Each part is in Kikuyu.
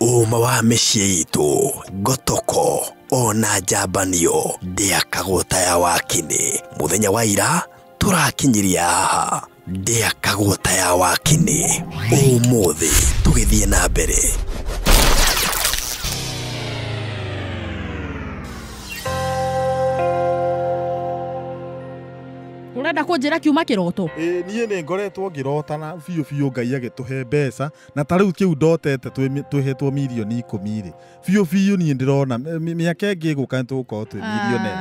Ũma wa mĩciĩ itũ, ngotoko, ona njambanio, ndĩakagwo ta ya wakinĩ. Mũthenya wa ira, tũrakinyiria haha, ndĩakagwo ta ya wakinĩ. Ũmũthĩ, tũgĩthiĩ na mbere. Ũrenda kũnjĩra kiuma kĩroto? Ĩĩ niĩ nĩ ngoretwo ngĩrotana biũ biũ Ngai agĩtũhe mbeca na ta rĩu kĩu ndotete twĩhetwo mirioni ikũmi rĩ biũ biũ niĩ ndĩrona mĩaka ĩngĩ ĩgũka nĩ tũgũkorwo twĩ milionea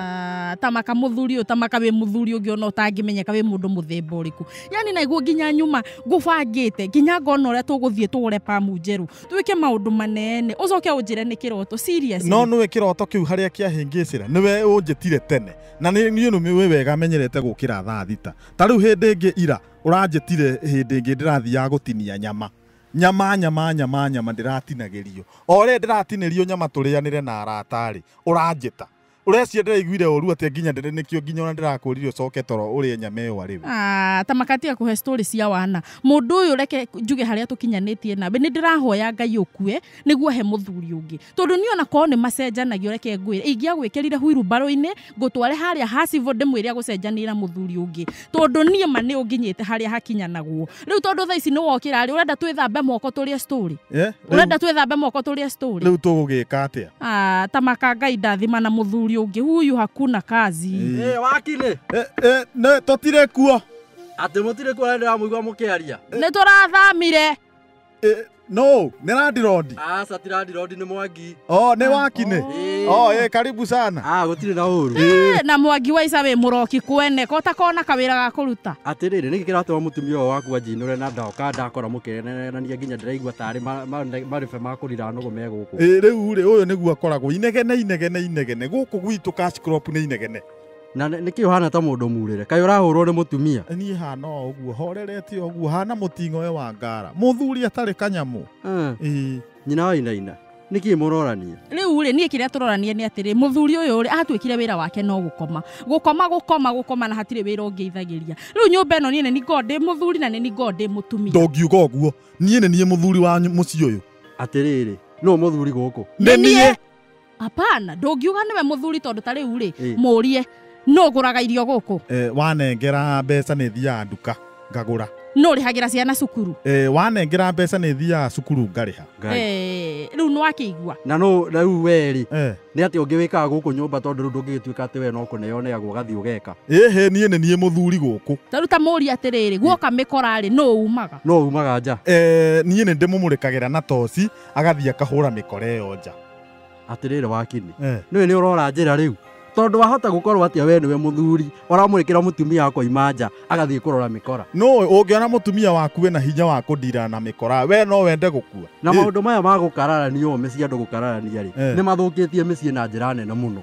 ah, tamaka muthuri utamaka wi muthuri ungi ona utangimenyeka wi mundu muthemba uriku yani naiguo nginya nyuma ngubangite nginya ngona uria tuguthie tugure pamu njeru twike maundu manene ucoke unjire ni kiroto serious no niwe kiroto kiu haria kiahingicira niwe unjitire tene na ni ni wega menyerete gukira thaa thita ta riu hindi ingi ira Ũranjĩtire hĩndĩ ĩngĩ ndĩrathiaga gũtinia nyama Nyama nyama nyama nyama ndĩratinagĩrio O rĩrĩa ndĩratinĩrio nyama tũrĩanĩre na arata-rĩ Ũranjĩta Ũreciria ndĩraiguire ũru atĩa nginya ndĩre nĩkĩo nginya ona ndĩrakũrire ũcoke toro ũrĩe nyama ĩyo arĩ we? Aah ta maka tiga kũhe story cia wana Mũndũ ũyũ reke njuge harĩa tũkinyanĩtie nawe Nĩndĩrahoya Ngai ũkue nĩguo ahe mũthuri ũngĩ Tondũ niĩ ona korwo nĩmacenjanagia reke ngwĩre Ingĩagwĩkĩrire huiru mbaru-inĩ ngũtware harĩa ha civil ndĩmwĩre agũcenjanĩra mũthuri ũngĩ tondũ niĩ ma nĩ ũnginyĩte harĩa hakinyanagwo rĩu tondũ thaa ici nĩ wokĩra rĩ ũrenda twĩthambe moko tũrĩe story Eh, rĩu- ũrenda twĩthambe moko tũrĩe story rĩu tũgũgĩka atĩa Ah, ta maka ngai ndathima na mũthuri ũngĩ huyu hakuna kazi Ĩ, wakiri Eh, eh, nĩ- tũtirĩ kuo atä må tirä kuo ndä ramå igua må kä aria nĩ tũrathamire Ĩ, no nä randirodi Aca ti randirodi nĩ mwangi. o nä wakinä Ĩĩ. o ä karibu sana Ah, gũtirĩ na ũru. Eh, na mwangi wa ica wĩ mũroki kwene ko ta kona kawĩra ga kũruta atĩrĩrĩ nĩkĩ kĩratũma mũtumia ũyũ waku anjinũre na ndoka ndakora mũkĩenanania nginya ndĩraigua tarĩ ma- ma- marĩbe ma kũrira nũgũ me gũkũ rä u rä å yå nä guo akoragwo inegene inegene inegene gå kå gwitå nä inegene na nĩ kĩ ũhana ta mũndũ murĩre kaĩ ũrahũrwo nĩ mũtumia niĩ hana o ũguo horerete o ũguo hana mũting'o we wa ngara mũthuri atarĩ kanyamũ Ah, Ĩĩ. nyina wa inaina nĩ kĩ mũrorania rĩu rĩ niĩ kĩrĩa tũrorania nĩ atĩrĩ mũthuri ũyũ rĩ atuĩkire wĩra wake no gũkoma gũkoma gũkoma gũkoma na hatirĩ wĩra ũngĩithagĩria rĩu nyũmba ĩno niĩ nĩ ningoo ndĩ mũthuri na nĩ ningoo ndĩ mũtumia ndongiuga ũguo niĩ nĩ niĩ mũthuri wa ny- mũciĩ ũyũ atĩrĩrĩ nũ mũthuri gũkũ Nĩ niĩ. apana ndũngiuga nĩwe mũthuri tondũ ta rĩu rĩ Ĩ. mũrie nũ ũgũraga irio gũkũ Eh, wanengera mbeca nĩ thiaga nduka ngagũra nũ ũrĩhagĩra ciana cukuru Eh, wanengera mbeca nĩ thiaga cukuru ngarĩha Ngai. Eh, rĩu nĩ wakĩigua na no rĩu we rĩ Eh, nĩ atĩ ũngĩ wĩkaga gũkũ nyũmba tondũ rĩu ndũngĩgĩtuĩka atĩ we no kũneo neagwo ũgathiĩ ũgeka ĩhĩ niĩ nĩ niĩ mũthuri gũkũ tarĩu ta mũria atĩrĩrĩ guoka mĩkora rĩ nũ umaga no umaga nja Eh, niĩ nĩ ndĩmũmũrĩkagĩra na toci agathiĩ akahũra mĩkora ĩyo nja atĩrĩrĩ wakinĩ Eh. nĩwe nĩ ũrora njĩra rĩu tondũ wahota gũkorwo atĩa we nĩwe mũthuri ũramũrĩkĩra mũtumia wako imanja agathiĩ kũrora mĩkora no ũngĩona mũtumia waku wĩna hinya wa kũndirana na mĩkora we no wende gũkua na Ĩ, maũndũ maya ma gũkararania ũũme cia andũ gũkararania rĩ Eh. nĩ mathũkĩtie mĩciĩ na njĩra nene mũno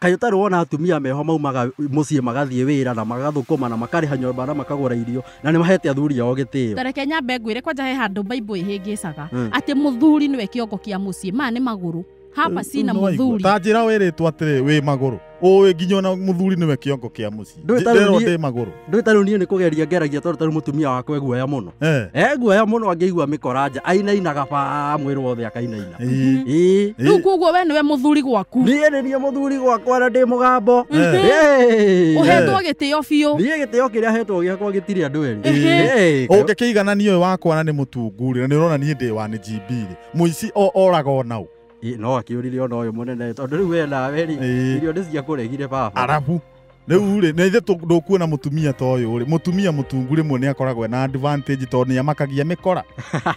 Kaĩ ũtarĩ wona atumia meho maumaga mũciĩ magathiĩ wĩra na magathũkũma na makarĩha nyũmba na makagũra irio na nĩ mahete athuri ao gĩtĩo. Ta reke nyambe ngwĩre kwanja he handũ Bible ĩhĩngĩcaga Mm. atĩ mũthuri nĩwe kĩongo kĩa mũciĩ. Maya nĩ magũrũ. Haba cina Nĩwaigua. mũthuri. Ta njĩra wĩrĩtwo atĩrĩ wĩ magũrũ. Ũĩ nginya ona mũthuri nĩwe kĩongo kĩa mũciĩ. Ndũĩ ta rĩu nderwo niĩ- ndĩ magũrũ ndũĩ ta rĩu niĩ nĩ kũgeria ngeragia tondũ ta rĩu mũtumia wakwa eguoya mũno Eh, eguoya mũno angĩigua mĩkora nja ainainaga baa mwĩrĩ wothe akainaina ii, ĩĩ rĩu ii. koguo we nĩwe mũthuri gwaku niĩ nĩ niĩ mũthuri gwakwa na ndĩ mũgambo Ĩĩ. ũhetwo gĩtĩo biũ niĩ gĩtĩo kĩrĩa hetwo gĩakwa gĩtirĩ andũ erĩ Ĩĩ. ũngĩkĩiganania ũyũ wakwa na nĩ mũtungurĩ na nĩ ũrona niĩ ndĩ wa nĩ jimbirĩ mũici o- oraga onaũ Ĩĩ, no akĩũrire ona ũyũ mũnene tondũ rĩu we nawe rĩ Ĩĩ. irio nĩ ciakũregire baba arabu rĩu rĩ na ithe ndũkuona mũtumia ta ũyũ rĩ mũtumia mũtungu rĩmwe nĩ akoragwo na advantage tondũ nĩ amakagia mĩkora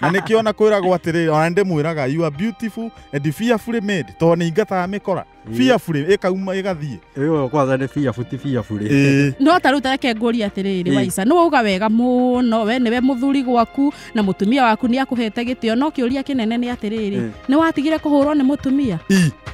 na nĩkĩo ona kwĩragwo atĩrĩ ona nĩ ndĩmwĩraga you are beautiful and fearfully made tondũ nĩ ingataga mĩkora Ĩĩ. fearfully ĩkauma ĩgathiĩ ĩyo kwanza nĩ biabu ti biabu rĩ Ĩĩ. no ta rä u tareke ngåria atä rä rä Ĩĩ. waica nä wauga wega må no we nä we må thuri gwaku na må tumia waku nä akå hete gä tä o no kä å ria kä nene nä atä rä rä Ĩĩ. nä watigire kå hå rwo nä må tumia I.